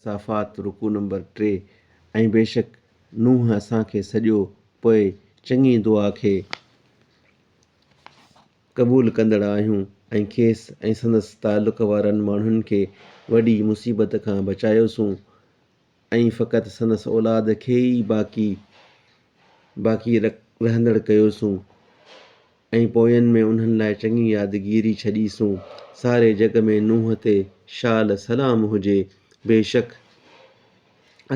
صافات، رڪوع نمبر ٽي، ۽ بيشڪ نوح اسان کي سڏيو پوء چڱي دعا کي قبول ڪندڙ آهيون ۽ کيس ۽ سندس تعلق وارن ماڻهن کي وڏي مصيبت کان بچايوسون ۽ فقط سندس اولاد کي ئي باقي باقي رهندڙ ڪيوسون ۽ پوين ۾ انهن لاء چڱي يادگيري ڇڏيسون. ساري جڳ ۾ نوح تي شال سلام هجي. بيشڪ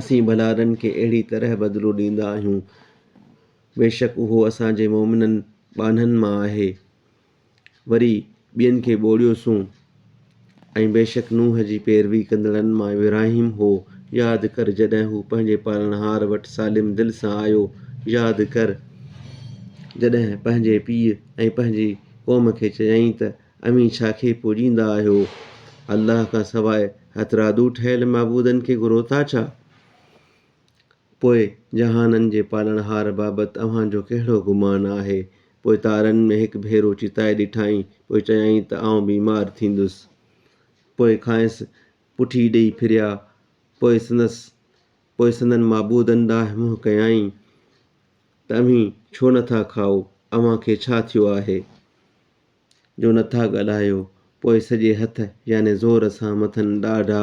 اسين ڀلارن کي اهڙي طرح بدلو ڏيندا آهيون. بيشڪ اهو اسان جي مؤمنن ٻانهن مان آهي. وري ٻين کي ٻوڙيوسون ۽ بيشڪ نوح جي پيروي ڪندڙن مان ابراهيم هو، ياد ڪر جڏهن هو پنهنجي پالڻهار وٽ سالم دل سان آيو، ياد ڪر جڏهن پنهنجي پيء ۽ پنهنجي قوم کي چيائين ته اوهين ڇا کي پوڄيندا آهيو؟ الله کان سواء هٿرادو ٺهيل معبودن کي گهرو ٿا ڇا؟ پوء جهانن جي پالڻهار بابت اوهان جو ڪهڙو گمان آهي؟ پوء تارن ۾ هڪ ڀيرو چتائي ڏٺائين، پوء چيائين ته آئون بيمار ٿيندس. پوء کانئس پٺي ڏيئي ڦريا، پوء سندس پوء سندن معبودن ڏانهن منهن ڪيائين ته اوهين ڇو نه ٿا کائو؟ اوهان کي ڇا ٿيو آهي جو نه ٿا ڳالهايو؟ پوء سڄي هٿ يعني زور سان مٿن ڏاڍا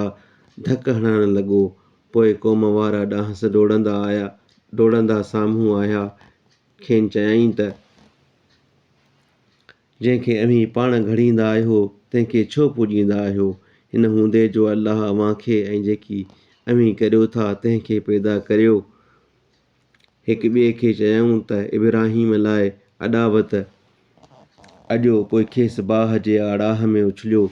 ڌڪ هڻڻ لڳو. پوء قوم وارا ڏانهس ڊوڙندا آيا ڊوڙندا سامهون آيا. کين چيائين ته، جنهن کي اوهين پاڻ گهڙيندا آهيو، تنهن کي ڇو پوڄيندا آهيو؟ ان هوندي جو الله اوهان کي ۽ جيڪي اوهين ڪريو ٿا، تنهن کي پيدا ڪريو. هڪ ٻئي کي چيائون ته، ابراهيم لاء اڏاوت اڏيو، پوء کيس باهه جي آڙاهه ۾ اڇليو،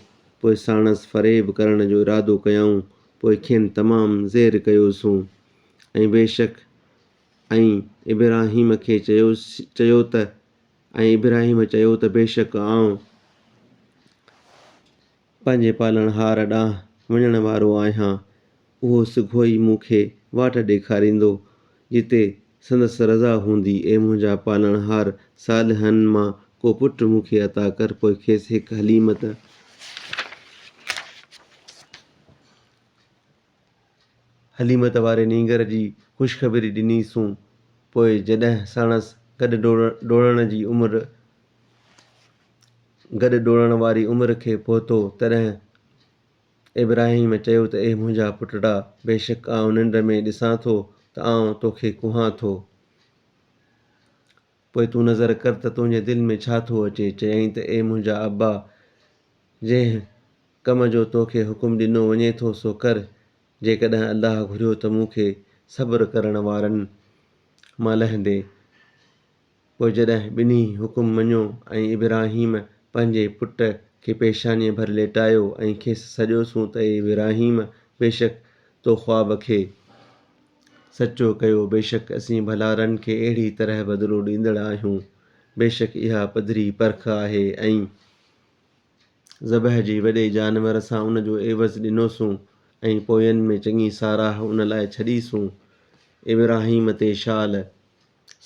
پوء ساڻس فريب ڪرڻ جو ارادو ڪيائون، پوء کين تمام زير ڪيوسون ۽ بيشڪ ۽ ابراهيم کي چيو چيو ته ۽ ابراهيم چيو ته بيشڪ آئون پنهنجي پالڻهار ڏانهن وڃڻ وارو آهيان، اهو سگهو ئي مون کي واٽ ڏيکاريندو، جتي سندس رضا هوندي، اي منهنجا پالڻهار! صالحن مان ڪو پٽ مون کي عطا ڪر، پوء کيس هڪ حليمت، حليمت واري نينگر جي خوشخبري ڏني سون پوء جڏهن ساڻس گڏ ڊوڙڻ جي عمر گڏ ڊوڙڻ واري عمر کي پهتو تڏهن ابراهيم چيو ته اي منهنجا پٽڙا بيشڪ آئون ننڊ ۾ ڏسان ٿو ته آئون توکي ڪوهان ٿو. پوء تون نظر ڪر ته تنهنجي دل ۾ ڇا ٿو اچي. چيائين ته اي منهنجا ابا! جنهن ڪم جو تو کي حڪم ڏنو وڃي ٿو سو ڪر. جيڪڏهن الله گهريو ته مون کي صبر ڪرڻ وارن مان لهندي. پوء جڏهن ٻنهي حڪم مڃيو ۽ ابراهيم پنهنجي پٽ کي پيشانيء ڀر ليٽايو ۽ کيس سڏيوسون ته اي ابراهيم! بيشڪ تو خواب کي. سچو ڪيو، بيشڪ اسين ڀلارن کي اهڙي طرح بدلو ڏيندڙ آهيون. بيشڪ اها پڌري پرک آهي ۽، ذبح جي، وڏي جانور سان ان جو عيوض ڏنوسون ۽ پوين ۾ چڱي ساراهه ان لاء ڇڏيسون. ابراهيم تي شال،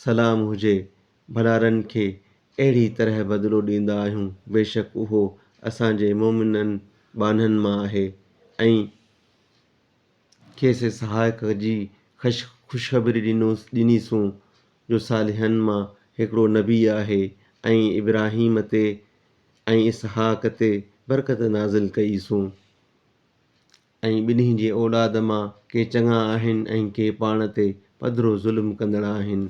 سلام، هجي، ڀلارن کي اهڙي طرح بدلو ڏيندا آهيون، بيشڪ اهو اسان جي مؤمنن ٻانهن مان آهي ۽، کيس اسحاق جي خوشخبري ڏنيسون، جو صالحن مان هڪڙو نبي آهي ۽ ابراهيم تي ۽ اسحاق تي برڪت نازل ڪئيسون ۽ ٻنهي جي اولاد مان ڪي چڱا آهن ۽ ڪي پاڻ تي پڌرو ظلم ڪندڙ آهن.